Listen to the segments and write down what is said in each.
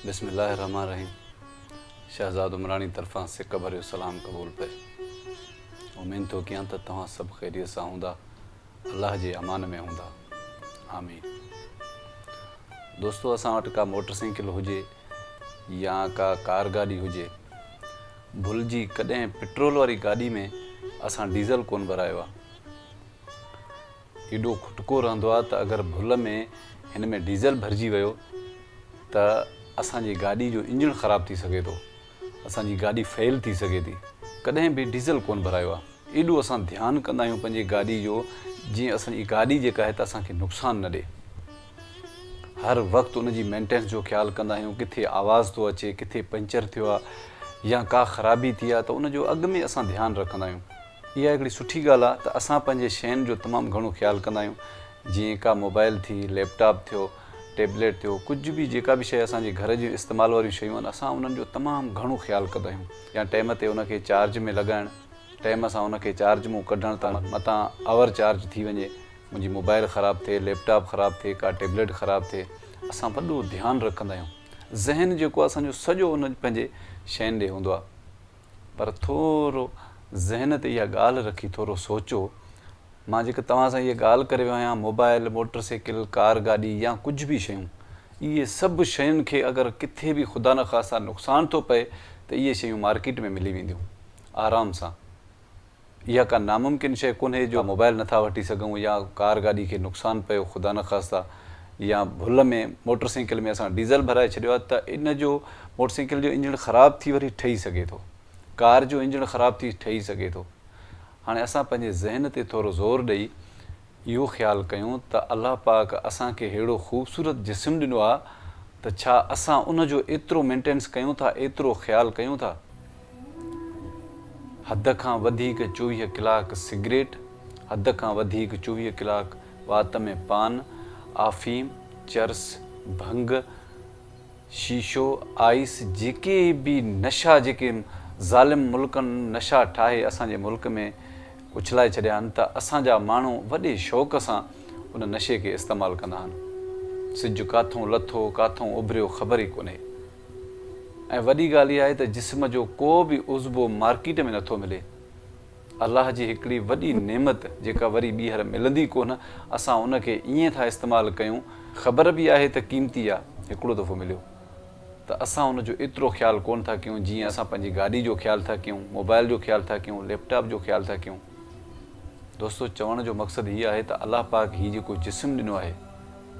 بسم الله الرحمٰن الرحيم شهزاد عمراڻي طرفان سڪ ڀريو سلام قبول پئي امين ٿو ڪيان ته توهان سڀ خيريت سان هوندا الله جي امان ۾ هوندا آمين دوستو اسان وٽ ڪا موٽر سائيڪل هجي يا ڪا ڪار گاڏي هجي ڀل جي ڪڏهن پٽرول واري گاڏي ۾ اسان ڊيزل ڪون ڀرايو آهي ايڏو کٽڪو رهندو آهي ته اگر ڀل ۾ هن ۾ ڊيزل ڀرجي ويو ته اسان جي گاڏي جو انجڻ خراب ٿي سگهي ٿو اسان جي گاڏي فيل ٿي سگهي ٿي ڪڏهن به ڊيزل ڪونه ڀرايو آهي ايڏو اسان ڌيان ڪندا آهيون پنهنجي گاڏي جو جيئن اسان جي گاڏي جيڪا آهي ته اسان کي نقصان نه ڏي هر وقت ان جي مينٽينس جو خيال ڪندا آهيون ڪٿي آواز ٿو اچي ڪٿي پنچر ٿيو آهي يا ڪا خرابي ٿي آهي ته ان جو اڳ ۾ اسان ڌيان رکندا آهيون اها هڪڙي سٺي ڳالهه آهي ته اسان پنهنجي شين جو تمام گهڻو خيال ڪندا آهيون جيئن ڪا موبائل ٿي ليپ ٽاپ ٿيو ٽيبليٽ ٿيو ڪجهه به جيڪا به شيء اسان جي گهر جي استعمال واريون شيون آهن اسان انهن جو تمام گهڻو خيال ڪندا آهيون يا ٽيم تي ان کي چارج ۾ لڳائڻ ٽيم سان ان کي چارج مون ڪڍڻ ته متان اوور چارج ٿي وڃي منهنجي موبائل خراب ٿئي ليپ ٽاپ خراب ٿئي ڪا ٽيبليٽ خراب ٿئي اسان وڏو ڌيان رکندا آهيون ذهن جيڪو آهي اسان جو سڄو ان پنهنجي شين ڏي هوندو آهي. پر ٿورو ذهن تي اها ڳالهه رکي ٿورو سوچو، مان جيڪا توهان سان اهي ڳالهه ڪري ويو آهيان، موبائل، موٽر سائيڪل، ڪار گاڏي يا ڪجهه به شيون، اهي سڀ شين کي اگر ڪٿي به خدا نخواسته نقصان ٿو پئي ته اهي شيون مارڪيٽ ۾ ملي وينديون آرام سان. اها ڪا ناممڪن شيء ڪونهي جو موبائيل نٿا وٺي سگهون يا ڪار گاڏي کي نقصان پيو خدا نخواسته يا ڀل ۾ موٽر سائيڪل ۾ اسان ڊيزل ڀرائي ڇڏيو آهي ته ان جو موٽر سائيڪل جو انجڻ خراب ٿي وري ٺهي سگهي ٿو ڪار جو انجڻ خراب ٿي ٺهي سگهي ٿو هاڻي اسان پنهنجي ذهن تي ٿورو زور ڏئي اهو خيال ڪيون ته الله پاڪ اسان کي ههڙو خوبصورت جسم ڏنو آهي ته ڇا اسان ان جو ايترو مينٽينس ڪيون ٿا ايترو خيال ڪيون ٿا حد کان وڌيڪ چوويهه ڪلاڪ سگريٽ حد کان وڌيڪ چوويهه ڪلاڪ وات ۾ پان آفيم چرس ڀنگ شيشو، آئيس جيڪي به نشا جيڪي ظالم ملڪن نشا ٺاهي اسان جي ملڪ ۾ اڇلائي ڇڏيا آهن ته اسان جا ماڻهو وڏي شوق سان ان نشي کي استعمال ڪندا آهن. سج ڪاٿئون لٿو ڪاٿئون اڀريو خبر ئي ڪونهي ۽ وڏي ڳالهه اها آهي ته جسم جو ڪو به عضبو مارڪيٽ ۾ نٿو ملي. الله جي هڪڙي وڏي نعمت جيڪا وري ٻيهر ملندي ڪونه اسان ان کي ائين ٿا استعمال ڪيون خبر به آهي ته قيمتي آ هڪڙو دفعو مليو ته اسان ان جو ايترو خيال ڪونه ٿا ڪيون جيئن اسان پنهنجي گاڏي جو خيال ٿا ڪيون موبائل جو خيال ٿا ڪيون ليپ ٽاپ جو خيال ٿا ڪيون دوستو چوڻ جو مقصد هي آهي ته الله پاڪ هي جيڪو جسم ڏنو آهي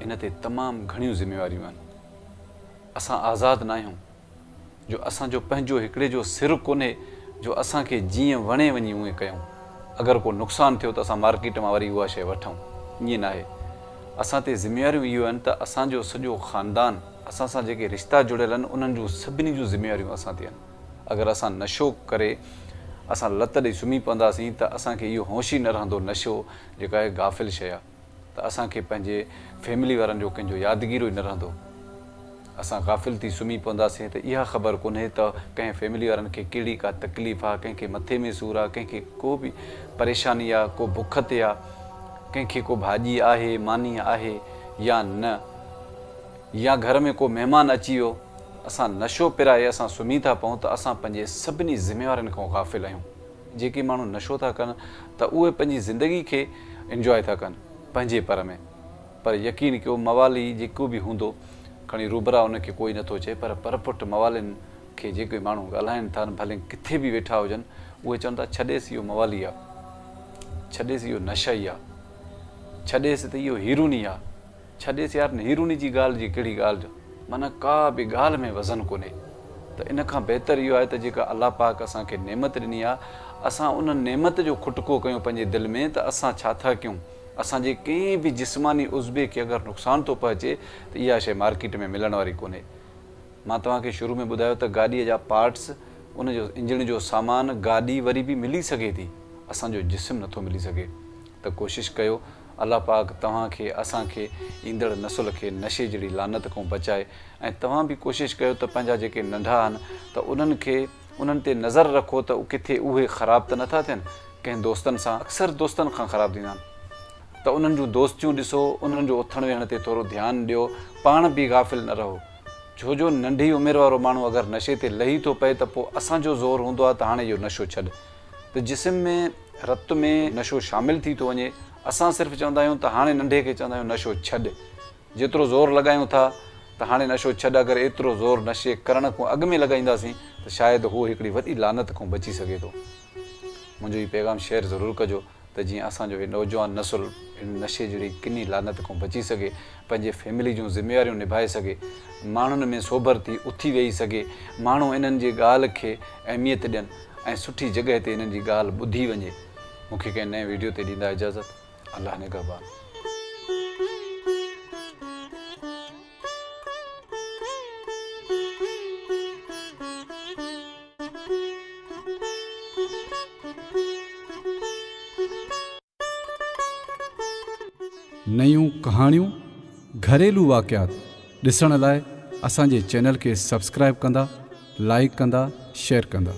ان تي تمام گهڻيون ذميواريون آهن اسان آزاد ناهيون. جو اسان جو پنهنجو هڪڙي جو سر ڪونهي جو اسان کي جيئن وڻي وڃي اونئين ڪيون. اگر ڪو نقصان ٿيو ته اسان مارڪيٽ مان وري اها شيء وٺون. ائين ناهي. اسان تي ذميواريون اهيو آهن ته اسان جو سڄو خاندان، اسان سان جيڪي رشتا جڙيل آهن انهن جون سڀني جون ذميواريون اسان تي آهن. اگر اسان نشو ڪري اسان لت ڏئي سمهي پونداسين ته اسان کي اهو هوش ئي نه رهندو نشو جيڪا هڪ غافل شيء آهي. ته اسان کي پنهنجي فيملي وارن جو ڪنهن جو يادگيرو ئي نه رهندو. اسان غافل ٿي سمهي پونداسين ته اها خبر ڪونهي ته ڪنهن فيملي وارن کي ڪهڙي ڪا تڪليف آ، ڪنهن کي مٿي ۾ سور آ، ڪنهن کي ڪو به پريشاني آ، ڪو بک تي آ، ڪنهن کي ڪو ڀاڄي آهي، ماني آهي يا نه يا گهر ۾ ڪو مهمان اچي ويو. اسان نشو پرائي اسان سمهي ٿا پئون ته اسان پنهنجي سڀني ذميوارين کان غافل آهيون. جيڪي ماڻهو نشو ٿا ڪن ته اهي پنهنجي زندگي کي انجواء ٿا ڪن پنهنجي پر ۾ پر يقين ڪيو موالي جيڪو به هوندو کڻي روبرا ان کي ڪوئي نٿو چئي پر پر پٽ موالين کي جيڪي ماڻهو ڳالهائن ٿا ڀلين ڪٿي به ويٺا هجن اهي چون ٿا ڇڏيس اهو موالي آ ڇڏيس اهو نشئي آ ڇڏيس ته اهو هيروني آ. ڇڏيس يار نيروني جي ڳالهه جي ڪهڙي ڳالهه جو معنيٰ ڪا به ڳالهه ۾ وزن ڪونهي ته ان کان بهتر اهو آهي ته جيڪا الله پاڪ اسان کي نعمت ڏني آهي اسان ان نعمت جو کٽڪو ڪيون پنهنجي دل ۾ ته اسان ڇا ٿا ڪيون اسان جي ڪنهن به جسماني عضوي کي اگر نقصان ٿو پهچي ته اها شيء مارڪيٽ ۾ ملڻ واري ڪونهي مان توهان کي شروع ۾ ٻڌايو ته گاڏيء جا پارٽس ان جو انجڻ جو سامان گاڏي وري به ملي سگهي ٿي اسان جو جسم نٿو ملي سگهي ته ڪوشش ڪيو الله پاڪ توهان کي اسان کي ايندڙ نسل کي نشي جهڙي لعنت کون بچائي ۽ توهان به ڪوشش ڪيو ته پنهنجا جيڪي ننڍا آهن ته انهن کي انهن تي نظر رکو ته ڪٿي اهي خراب ته نٿا ٿين ڪنهن دوستن سان اڪثر دوستن کان خراب ٿيندا آهن ته انهن جون دوستيون ڏسو انهن جو اٿڻ ويهڻ تي ٿورو ڌيان ڏيو پاڻ به غافل نه رهو ڇو جو ننڍي عمر وارو ماڻهو اگر نشي تي لهي ٿو پئي ته پوء اسان جو زور هوندو آهي ته هاڻي اهو نشو ڇڏ ته جسم ۾ رت ۾ نشو شامل ٿي ٿو وڃي. اسان صرف چوندا آهيون ته هاڻي ننڍي کي چوندا آهيون نشو ڇڏ. جيترو زور لڳايون ٿا ته هاڻي نشو ڇڏ اگر ايترو زور نشي ڪرڻ کون اڳ ۾ لڳائينداسين ته شايد هو هڪڙي وڏي لعنت کون بچي سگهي ٿو. منهنجو هي پيغام شيئر ضرور ڪجو ته جيئن اسان جو هي نوجوان نسل هن نشي جهڙي ڪني لعنت کون بچي سگهي، پنهنجي فيملي جون ذميواريون نڀائي سگهي، ماڻهن ۾ سوڀر ٿي اٿي ويهي سگهي، ماڻهو انهن جي ڳالهه کي اهميت ڏين. ۽ سٺي جڳهه تي انهن جي ڳالهه ٻڌي وڃي مون کي ڪنهن نئين ويڊيو تي ڏيندا اجازت الله نگهبان. نيون ڪهاڻيون، گهريلو واقعات ڏسڻ لاء اسان جي چينل کي سبسڪرائيب ڪندا، لائيڪ ڪندا، شيئر ڪندا.